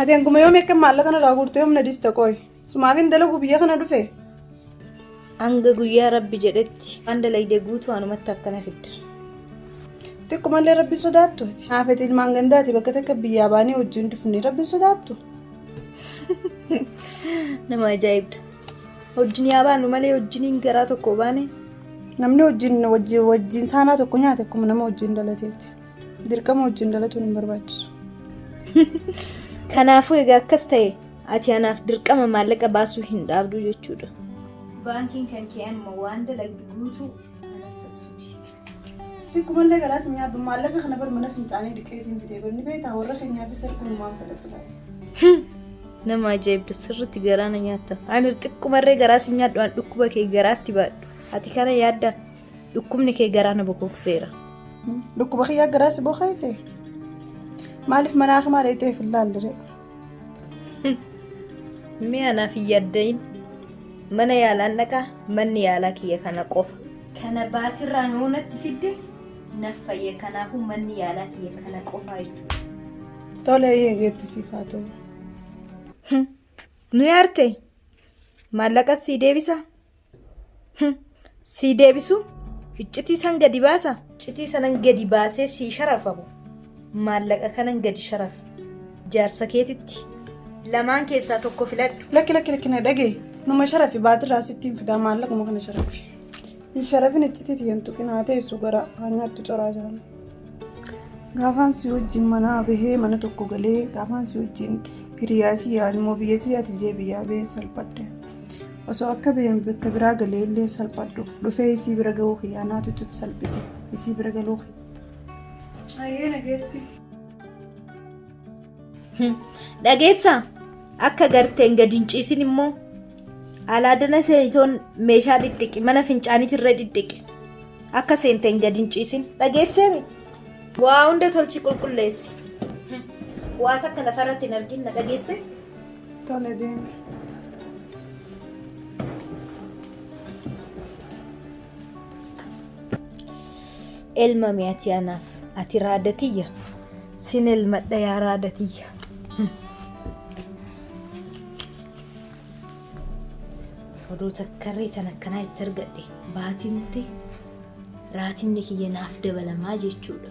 Ati hanguma yoom akka maallaqa irraa guurtee humna dista qoy. Sumaafin dalagu biyya kana dhufe. Hanga guyyaa rabbi jedhetti waan dalagde guutuu anumatti akkana fidda. Xiqqumallee rabbi sodaattu ati. Haafeti ilmaan gandaati bakka takka biyyaa baanee wajjin dhufne rabbi sodaattu. Nama ajaa'ibda. Wajjin yaa baanu malee wajjiniin garaa tokko baane. Namni wajjin wajjin wajjin saanaa tokko nyaate akkuma nama wajjin dhalateeti. Dirqama wajjin dhalatuun hin barbaachisu. Kanaafuu egaa akkas ta'e ati anaaf dirqama maallaqa baasuu hin dhaabdu jechuudha. Baankiin kan kee amma waan dalagdu guutuu anaf tassuuti. Xiqqumallee garaa sin nyaadhu maallaqa kana bar mana fincaanii dhiqeetiin bitee bar ni beektaa warra keenyaafis erguu numaan fedha silaa. Hmm. Nama ajaa'ibda sirriitti garaa na nyaatta. Ani xiqqumarree garaa sin nyaadhu an dhukkuba kee garaatti baadhu. Ati kana yaadda dhukkubni kee garaa na bokookseera. Dhukkuba kiyyaa garaa si bokeesse maaliif mana hakimaa dheeyxee hin laallire. Mee anaaf hin yaadda'in. Mana yaalaan dhaqaa manni yaalaa kiyya kana qofa. Kana baatirraan hoo natti fidde naf fayya kanaafuu manni yaalaa kiyya kana qofaa jechuudha. Tole eeyyee geetti siif haa ta'u. Nu yaarte maallaqa sii deebisa. Sii deebisu iccitii san gadi baasa. Iccitii sanan gadi baasee sii sharafamu maallaqa kanan gadi sharafa jaarsa keetitti lamaan keessaa tokko filadhu. Lakki lakki lakki na dhagee. Numa sharafi baatirraa sitti hin fidaa maallaquma kana sharafi. Hin sharafin iccitii tiyyan tuqin haa teessu gara haa nyaattu coraa jiran. Gaafaan si wajjin manaa bahee mana tokko galee gaafaan si wajjin hiriyaa tiyyaa ilmoo biyya tiyyaati jee biyyaa bahee salphadhe. Osoo akka baheen bakka biraa galee illee salphadhu dhufee isii bira gahuu kiyyaa naatu cuf salphise isii bira galuu kiyya. Ayyee nageetti. Dhageessa akka garteen gad hin ciisin immoo alaadana seetoon meeshaa dhidhiqi mana fincaaniitti irra dhidhiqi akka seenteen gad hin ciisin dhageesseemi waa hunda tolchi qulqulleessi waa takka lafarratti hin argin na dhageesse Tole deemi. Elmame ati anaaf. Ati raada tiyya. Sin elmadha yaa raada tiyya. Oduu takkarree tan akkanaa itti argadhe baatimti raatimni kiyya naaf dabalamaa jechuudha.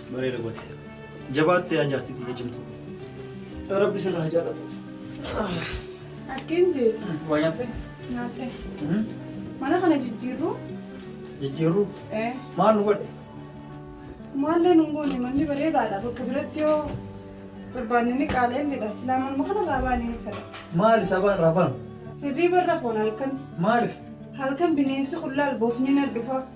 Bareeda goote. Jabaatte yaa jaartii tiyya cimtuu. Rabbi sirraa haa jaallatu. Akkeen jeeti. Waa nyaattee? Nyaatee. Mana kana jijjiirruu? Jijjiirruu? Ee. Maal nu godhe? Maallee nu goone manni bareedaadha bakka biratti yoo barbaanne ni qaala'inidha. Silaa manuma kanarraa baanee ni fedha. Maali sabaan rabaan? Hirriiba irra foon halkan. Maaliif? Halkan bineensi qullaa alboofni na dhufa.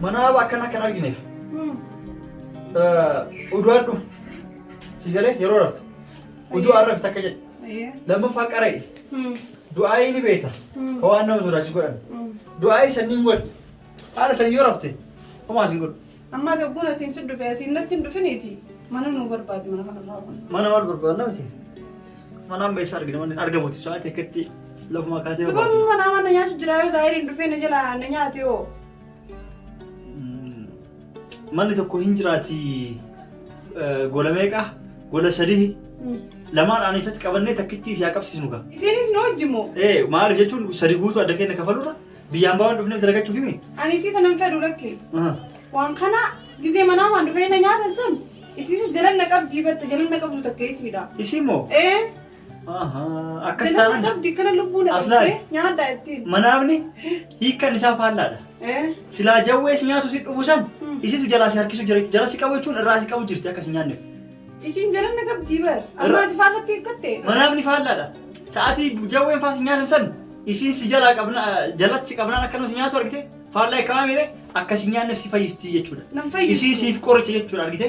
Mana haaba akkana akka hin argineef. Udu'adhu. Si galee yeroo raftu. Uduu har'a rafte akka jedhe. Lammaffaa qara'i. Du'aayii ni beekta. Ka waan nama sodaachisu godhan. Du'aayii sanniin godhi. Haala sanii yoo rafte homaa sin godhu. Ammaa tokkoon asiin si dhufe asiin natti hin dhufiniiti. Mana nu barbaadi mana kana irraa kun. Mana maal barbaadna miti? Mana amma eessa argina manni argamuti sa'aatii akkatti lafuma kaatee Dubarni mana mana nyaatu jira yoo zaahiriin dhufee na jala na nyaate hoo. Manni tokko hin jiraati gola meeqa? Gola sadii. Lamaan aanifatti qabannee takkittii si haa qabsiisnu gaa. Isinis nu wajji moo? Ee maaliif jechuun sadi guutuu adda keenya kafalurra biyyaan baawwan dhufneef dalagachuuf himi. Ani isii tanan fedhu lakke. Waan kana gizee manaa waan dhufee na nyaatan san isinis jalanna qabdii barta jalanna qabdu takka isiidha. Isii moo? Ee. Akkas Ganama taanaan qabdi kana lubbuu na Aslaa. qabdee nyaadhaa ittiin. manaafni hiikkan isaa faallaadha. Eh, Silaa jawwee si nyaatu si dhufu san Hmm. isitu jalaa si harkisu jira jala si qabu jechuun irraa si qabu jirti akka si nyaanneef. Isiin jalan na qabdii bar. Ammaati faallatti eeggatte. Manaafni faallaadha. Sa'aatii jawween faa si nyaatan san isiin si jalaa qabna jalatti si qabnaan akkanuma si nyaatu argite faallaa eekkamaa miire akka si nyaanneef si fayyisti jechuudha. Nan fayyadu. Isiin siif qoricha jechuudha argite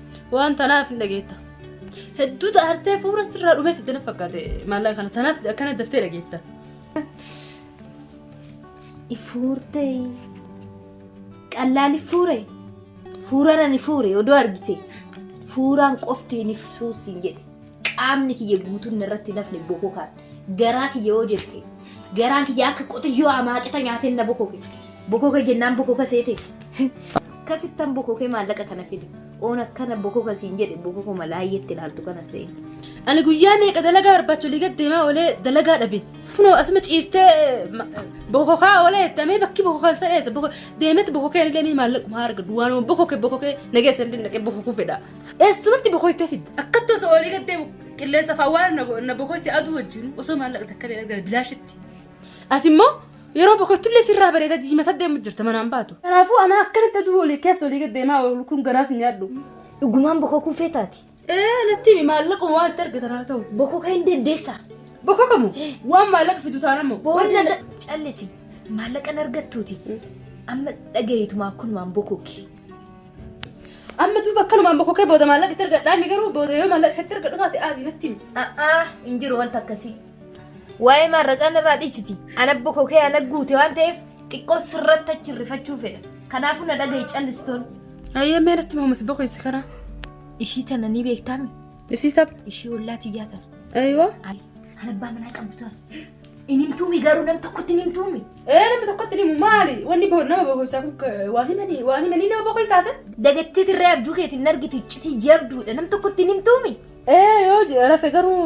Waan tanaaf hin dhageetta. Hedduu taartee fuula sirraa dhumee fitte na fakkaate maallaqa kana tanaaf akkana daftee dhageetta. Ifuurtee qallaali fuure fuuraan ani fuure odoo argite fuuraan qofti hin ibsuu siin jedhe. qaamni kiyya guutuun narratti hin hafne bokokaan garaa kiyya yoo jette garaan kiyya akka qotiyyoo amaaqita nyaateen na bokoke bokoke jennaan bokoka seete akkasittan bokoke maallaqa kana fide oon akkana bokoka siin jedhe bokokuma laayyetti ilaaltu kana se'e. Ani guyyaa meeqa dalagaa barbaacha olii gad deemaa oolee dalagaa dhabe. Kunoo asuma ciiftee ma- bokokaa oolee jettamee bakki bokokaan sa'eessa. Deemetti bokokeen illee mee maallaquma arga. Duwwaanuma bokoke bokokee nageessa illee naqee bokokuu fedha. Eessumatti bokoytee fidda. Akkatti osoo olii gad deemu qilleensa fawwaara na bo- na bokoyse aduu wajjin osoo maallaqa takka illee argate bilaashitti. As immoo yeroo bokoytullee sirraa bareeda diimata deemu jirta manaan baatu. Kanaafuu anaa akkanatti aduu olii keessa olii gad deemaa oolu kun garaas hin nyaadhu. Dhugumaan bokokuu feetaati. Ee natti himi maallaquma waan itti argatan haa ta'u. Bokoka hin dandeessa. Bokokamu waan maallaqa fidu taana immoo. Booda na- callisi. Maallaqan argattuuti. Amma dhagayeetumaa kun waan bokoki. Amma duuba akkanuma amma kokee booda maallaqa itti argadhaa inni garuu booda yoo maallaqa itti argadhu taate aadii natti himi. A'aa hin jiru wanta akkasii. Waa'ee maarraqaan irraa dhiisiti. Ana abbo kokee ana guute waan ta'eef xiqqoo sirratti achi rifachuu fedha. Kanaafuu na dhagahi callistoon. Ayyee mee natti mahumas bakka isa karaa. Ishii tana ni beektaami. Ishii tapha. Ishii ollaa tiyyaa tana. Ayiwa. Ana abbaa manaa qabdu tana. Hin himtuumi garuu nam tokkotti hin himtuumi. Ee namni tokkotti himu maali? Wanni bo- nama bokoisaa kun ka- waan himanii waan himanii nama bokoisaa san? Dagattii tirree abjuu keetiin argitu iccitii jabduudha nam tokkotti hin himtuumi. Ee yoo j- rafe garuu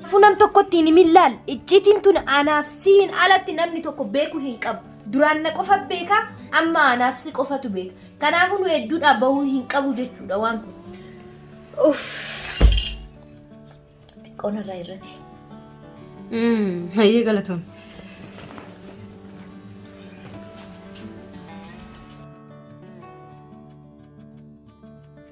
Kanaafuu nam tokkotti hin himin laal iccitiin tun anaaf siin alatti namni tokko beeku hin qabu. Duraan na qofa beeka, amma anaaf si qofatu beeka. Kanaafuu nu hedduudhaa bahuu hin qabu jechuudha waan kun. Uff. Xiqqoon irraa irrate. Hayyee galatoom.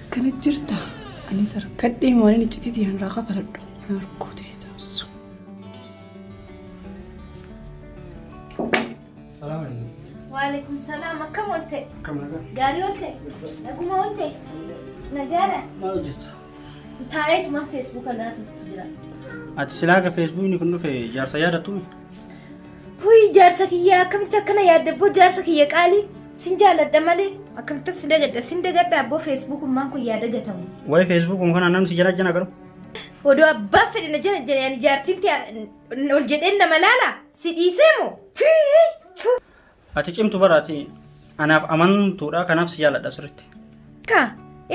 Akkana jirta. Ani sarkadhee waan inni citiitii hanraa kafaladhu. Na harkoo teessaa osoo. Salaam alaikum. Waalaikum salaam akkam oolte? Akkam nagaa? Gaarii oolte? Naguma oolte? Nagaadha. Maal hojjetta? Taa'eetumaan feesbuuka naaf itti jira. Ati silaa ka feesbuukni kun dhufe jaarsa yaadattuumi? Huyi jaarsa kiyya akkamitti akkana yaadda abboo jaarsa kiyya qaalii sin jaaladha malee akkamitti sin dagadha sin dagadha abboo feesbuuk ummaan kun yaa dagatamu. Waa'ee Facebook um kana namni si jala jana garu. Odoo abbaan fedhe na jala jala ani jaartiin tee ol jedheen nama laala si dhiisee moo? Ati cimtu bara ati anaaf amantuudha kanaaf si jaaladha sirriitti. Ka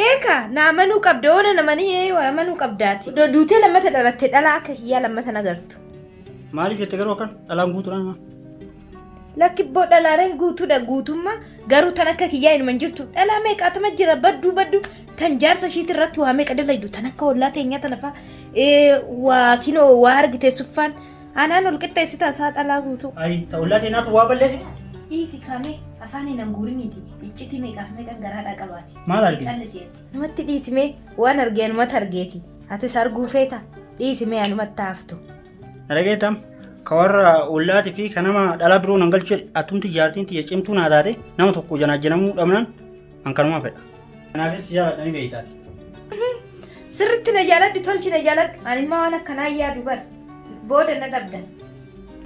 eeka na amanuu qabda oona namanii ee amanuu qabdaati. Do- Duutee lammata dhalatte dhalaa akka kiyyaa lammata hin agartu. Maaliif jette garuu akkan dhalaan guutuudha nama. Lakkibboo dhalaaleen guutuudha guutummaa garuu tan akka kiyyaa inuma hin jirtu dhalaa meeqaatama jira badduu badduu tan jaarsa ishiitti irratti waa meeqa dalaydu tan akka ollaa teenyaa tana faa ee, waa kinoo waa argite suffaan Aanaan ol qixxeessita isaa dhalaa guutuu. Ayi ta ollaa tee naatu waa balleessite. Dhiisi kaamee afaan hin hanguuriniiti iccitii meeqaaf meeqan garaadhaa qabaate. Maal argite? Calliseeti. Namatti dhiisimee waan argee anumatti argeeti. Atis arguu feeta dhiisimee anumatti haaftu. Dhageetam ka warra ollaati fi ka nama dhala biroo nan galchuu attumti jaartiin tiyya cimtuu naa taate nama tokko janaajjanamuu dhabnaan An kanumaa fedha. Kanaafis jaaladhanii beektaati. Sirritti na jaaladhu tolchi na jaaladhu. Ani immoo waan akkanaa yaadu bar. Booda na dhabda.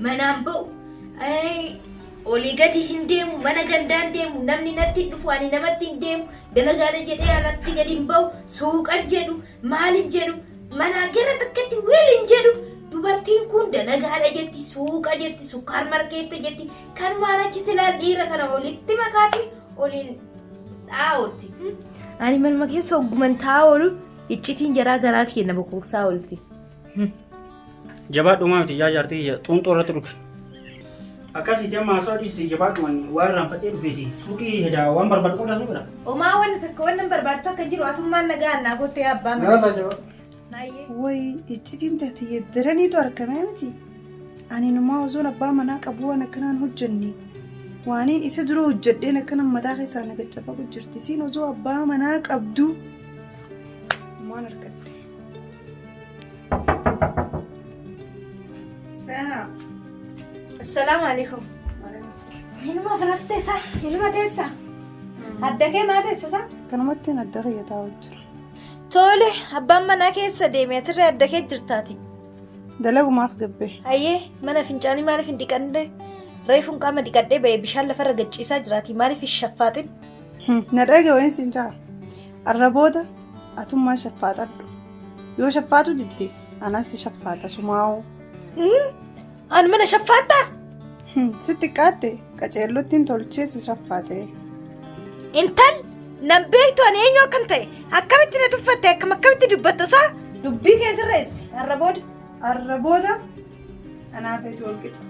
Manaan ba'u. Olii gadi hin deemu, mana gandaan deemu, namni natti hin dhufu, ani namatti hin deemu, dalagaadha jedhee alatti gadi hin ba'u, suuqan jedhu, maal hin jedhu, manaa gara takkatti weel hin jedhu. Dubartiin kun dalagaadha jetti, suuqa jetti, sukkaar markeetta jetti, Kanumaan achitti laal dhiira kana walitti makaati oliin dhaa'ooti. Ani manuma keessa ogguman taa'aa oolu iccitiin jaraa garaa keenya bokooksaa oolti. Jabaadhumaa miti yaa jaartii kiyya xuunxoo irratti dhufe. Akkasii jemma haasoo dhiisiti jabaadhuman waa irraan fadhee dhufeeti. Suuqii hedaa waan barbaadu qodaa suuqidha. Omaa wanna takka wanna barbaadu takka jiru atummaan nagaa annaa gottee abbaa mana. Nyaata jabaa. Woy iccitiin tati yeddaraniitu argamee miti. Ani numaa osoon abbaa manaa qabu waan akkanaan hojjenne. Waaniin isa dura hojjedheen akkanan mataa keessaa na gaccafagu jirti. Siin osoo abbaa manaa qabdu waan argadde. Seenaa. Assalaamu alaikum. Ilma firaftee isaa, ilma teessaa. Adda kee maa teessisa? Kanumatti hin adda kiyyataa jira. Tole, abbaan manaa keessa deeme atirra adda kee jirtaati. Dalagumaaf gabbee. Hayyee, mana fincaanii maaliif hin dhiqanne? Reefuun qaama dhiqadhee ba'e bishaan lafarra gachiisaa jiraati. Maaliif hin shaffaaxin? Na dhage wayin siin jaa. Arra booda atummaan shaffaaxadhu. Yoo shaffaaxu didde anas si shaffaaxa sumaa'oo. An mana shaffaattaa? Sitti qaatte qaceellottiin tolchee si shaffaate. Intal nan beektu ani eenyu akkan ta'e akkamitti na tuffatte akkam akkamitti dubbatta isaa? Dubbii kee sirreessi har'a booda. Har'a booda anaa feetu wal qixa.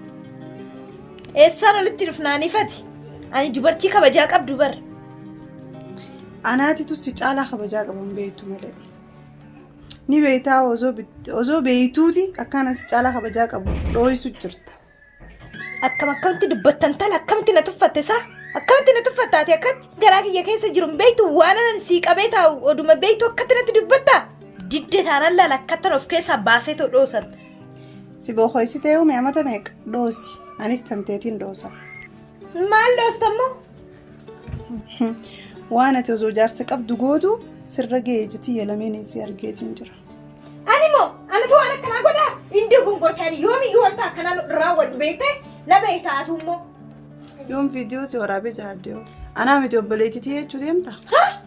Eessaan olitti dhufnaan ifati. Ani dubartii kabajaa qabdu bar. Anaatitu si caalaa kabajaa qaban beektu malee. Ni beektaa osoo beektuuti akkaan asi caalaa kabajaa qabu dhooysu jirta. Akkam akkamitti dubbattan tan akkamitti na tuffatte isaa akkamitti na tuffatta ati akkatti garaa kiyya keessa jiru hin beektu waan anan sii qabee taa'u oduma beektu akkatti natti dubbatta didde taanan laala akkattan of keessaa baasee too dhoosan. Si bookoysitee uume amata meeqa dhoosi anis tanteetiin dhoosa. Maal dhoostammoo? Waan ati osoo jaarsa qabdu gootu sirra ga'ee jetii yalameen si argeetiin jira. Ani moo anatu waan akkanaa godha indi gongortaan yoomiyyuu wanta akkanaa nu irraa wal beekte na beekta atuu immoo. Yoon viidiyoo si waraabee jiraadde hoo? Anaa miti obboleettitii jechuu deemta?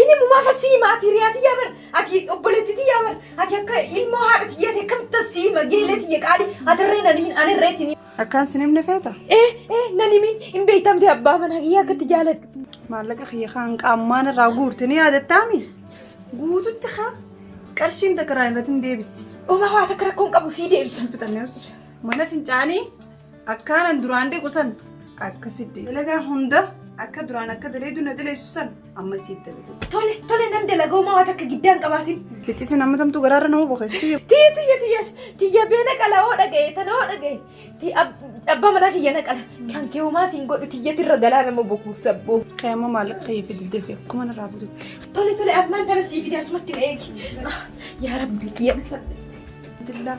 Inni mumaa fassii maatii riyaa tiyyaa bar ati obboleetti tiyyaa bar ati akka ilmoo haadha tiyyaa ta'e akkamitti as siima geellee tiyya qaali ati irree nan himin ani irree sinii. Akkaan sin himne feeta? Ee ee nan himin hin beektamte abbaa manaa kiyyaa akkatti jaaladhu. Maallaqa kiyya kan qaammaan irraa guurte ni yaadattaami? Guututti haa qarshiin takka irraa irratti hin deebisi. Uumaa waa takka rakkoon qabu sii deebisa. Sun fixannee mana fincaanii Akkaanan duraan dhiqu san akka si dalagaa hunda akka duraan akka daleedu na daleessu san amma si dalagu. Tole tole nan dalaga homaa waan akka giddaan qabaatin. Iccitiin amma tamtuu garaarra nama boqessi. Tiyya tiyya tiyya tiyya bee naqala hoo dhagaye tana hoo dhagaye. Ti abbaa manaa kiyya naqala kan kee homaa siin godhu tiyyatu irra galaa nama boquu sabboo. Kee amma maallaqa kee fi diddee fi akkuma narraa bututti. Tole tole ammaan tana sii fide asumatti na eegi. Yaa rabbi kiyya na salphise. Dillaa.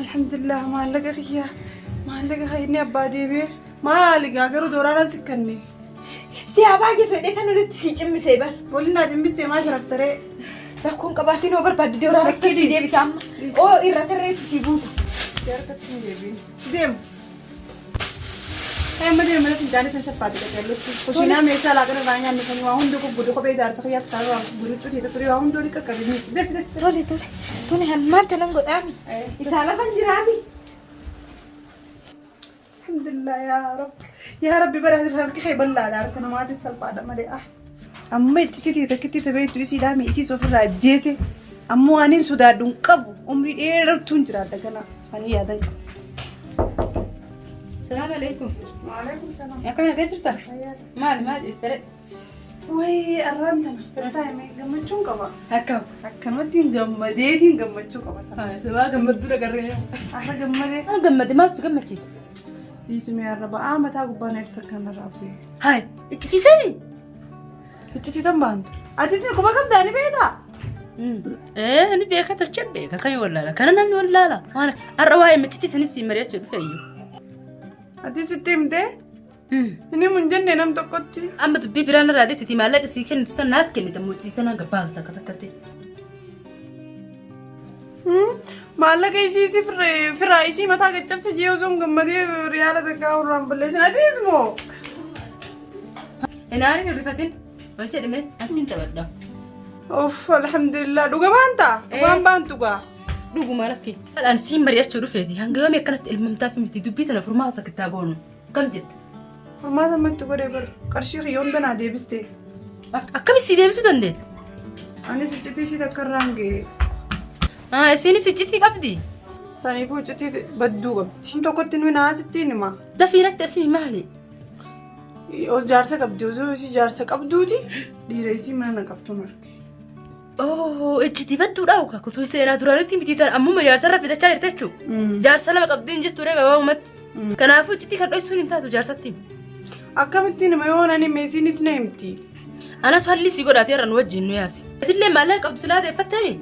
Alhamdulillah maallaqa kiyya maallaqa kan inni abbaa deebi'e maali gaa garuu dooraaraan si kanne. Si haa baay'ee fedhee kan olitti si cimmisee bar. Waliin naa cimmistee maa sharaftaree. Rakkoon qabaatiin hoo barbaadde dooraarratti si deebisa amma. Oo irra tarreessi si guuta. Deema. Amma deema natti midhaan isin shaffaati qajeellutti. Kushiinaa meeshaa laaqana irraa nyaannu kan waa hundi gubbudu kophee ijaarsa kiyyaatti kan irraa guduchuu tiita turii waa hundi olii qaqqabi miidhsi. Def def. Tole tole tole hammaan kanan godhaami. Isaa lafan jiraami. Alhamdulillah yaa Rabbi. Yaa Rabbi bara harki kee bal'aadha harka namaatis salphaadha malee. Amma iccititii takkitti tabeettu isii dhaame isiis ofirraa ajjeese. Ammoo aniin sodaadhu hin qabu. Umrii dheerartuun jiraadha kana. Ani yaadan qabu. Salaam alaikum. Waalaikum salaam. Akkana gad jirta? Maal maal istere? Wayii arraan tana. Irtaa himee gammachuun qaba. Akkam. Akkamattiin gammadeetiin gammachuu qaba sana. Sabaa gammadduu dhagarree. Arra gammadee. Gammade maaltu si gammachiisa? Dhiisimee arra ba'aa mataa gubbaa na irra takkaan narraa bu'ee. Hayi. Iccitiisani? Iccitiitan baanta. Atis quba qabdaa ni beektaa? Ee ni beeka tolchee beeka kan wallaala kana namni wallaala waan har'a waa'ee miccitii sanis siin mari'achuu dhufe iyyuu. Atis itti himtee? Inni mun jenne nam tokkotti. Amma dubbii biraan irraa dhiisiti maallaqa sii kennitu san naaf kennita muccitii tanaa gabbaasa takka takkatti. Maallaqa isii si firaa isii mataa gaccabsi jee osoo hin gammadee riyaala takkaa urraan balleessin atiis moo. Inaari hin rifatin. Maal jedhame? Asiin taphadha. Uff alhamdulillah dhuga baanta. Dhugaan baantu gaa. Dhuguma rakki. Haadhaan siin mari'achuu dhufeeti. Hanga yoomii akkanatti ilmamtaaf miti dubbii tana furmaata takka itti haa goonu. Akkam jette? Furmaata amma itti godhee bar qarshii kiyya hunda naa deebiste. Akkamitti si deebisuu dandeetti? Anis iccitii isii takka irraan ga'e. Ah, Isiinis iccitii qabdi. Saniifuu iccitii badduu qabdi. Kun tokkotti nuyi naasittiin hima. Dafii natti asimi maali? Os jaarsa qabdi osoo isii jaarsa qabduuti dhiira isii mana na qabdu marge. Oo, ejjitiifattuu dhaa'u ka kutuun seenaa duraanitti miti tan ammuma jaarsarra fidachaa jirti jechuu. Jaarsa lama qabdiin jettu ree gabaabumatti. Kanaafuu iccitii kan dho'isuun hin taatu jaarsatti. Akkamittiin hima yoo nani meesiinis na himti. Anatu hallii si godhaatee irra nu wajjin nu yaasi. Atillee maallaqa qabdu silaa deeffattami.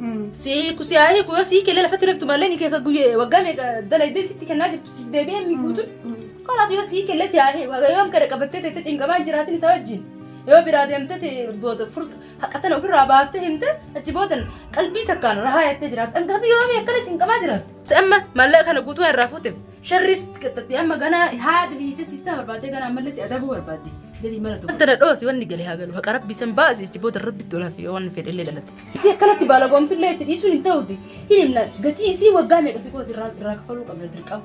Si hiiku si haa hiiku yoo si hiike illee lafatti raftu maallaqa ni keeka guyyee waggaa meeqa dalaydee sitti kennaa jirtu si deebi'ee mi guutuun. Kanaaf yoo si hiike illee si haa hiiku. Haga yoom kana qabattee teettee cinqamaa jiraatin isaa wajjin. Yoo biraa deemtee te- booda fur- Haqa tana ofirraa baaftee himte achi booda qalbii takkaan rahaa jettee jiraatte. Hanga biyya waamii akkana cinqamaa jiraatte. Amma maallaqa kana guutuu irraa fuuteef sharris qixxatte amma ganaa haadha hiite siistaa barbaadde ganaa ammallee si adabuu barbaadde. Deebii mala tokko. Wanta dhadhoosi wanni galee haa galu haqa rabbi san baasi achi booda rabbi tolaa fi waan fedhe illee dhalate. Isii akkanatti baalagoomtu illee itti dhiisuun hin ta'uuti. Hin himna gatii isii waggaa meeqa si kooti irraa kaffaluu qabna dirqama.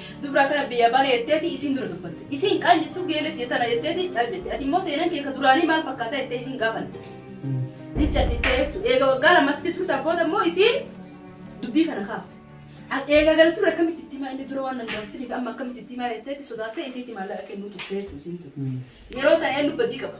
Dubra akkana biyya bane jetteeti isiin dura dubbatte. Isiin kaan jessuu geele tiyya tana jetteeti cal jette. Ati immoo seenan kee ka duraanii maal fakkaata jettee isiin gaafanne. Ni calliftee jechuudha. Eega waggaa lama asitti turtaan booda immoo isiin dubbii kana kaafte. An eega gala ture akkamitti itti himaa inni dura waan nan gaafatiniif amma akkamitti itti himaa jetteeti sodaattee isiitti maallaqa kennuu turtee jechuudha isiin ture. Yeroo ta'e eenyu badii qaba.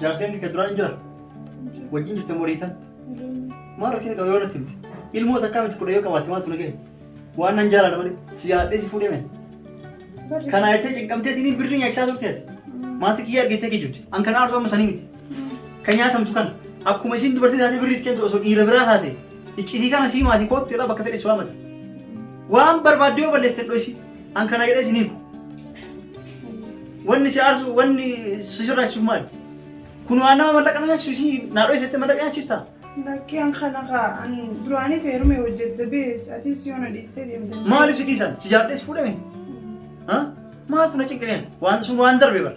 Jaarseen kee duraan hin jira? Wajjin jirte moo dhiitan? Maal rakkina qaba yoo natti himte? Ilmoo takkaa miti kudha yoo qabaatte maaltu na gahe? Waan nan jaalala malee si yaadhee si fuudhee mee? Kana jettee cinqamteetiin birrii nyaachisaa turte ati. Maatii kiyya argitee kijibdi. An kana aartu amma sanii miti. Kan nyaatamtu kana akkuma isin dubartii taatee birrii itti kennitu osoo dhiira biraa taate iccitii kana sii maatii koottu jedhaa bakka fedhe si waamata. Waan barbaadde yoo balleessite dho'isi. An kana jedhee isin hiiku. Wanni si aarsu wanni si sirraachisu maali? Kun waan nama mallaqa na nyaachisu isii naadhoo isatti mallaqa nyaachista. Lakkii an kana kaa an duraanis heerumee hojjette bees atis yoo na dhiistee deemte. Maaliif si dhiisan? Si jaalladhee si fuudhame? Ha? Maaltu na cinqineen? Waan sun waan darbe bara.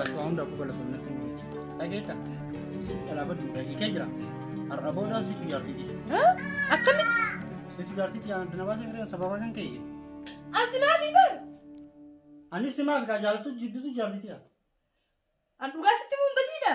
Ati waa hundaafuu galatoomna natti hin hojjetu. Dhageetta? Isin dhalaa baddu dha. Hiikee jira. Har'a booda situ jaartii ti. Akkamitti? Situ jaartii ti. Adda na baasee fidan sababa kan ka'e. Asi maafi bar? Anis si maaf gaa jaalatu jibbisu jaartii ti. An dhugaa sitti muun badiidha.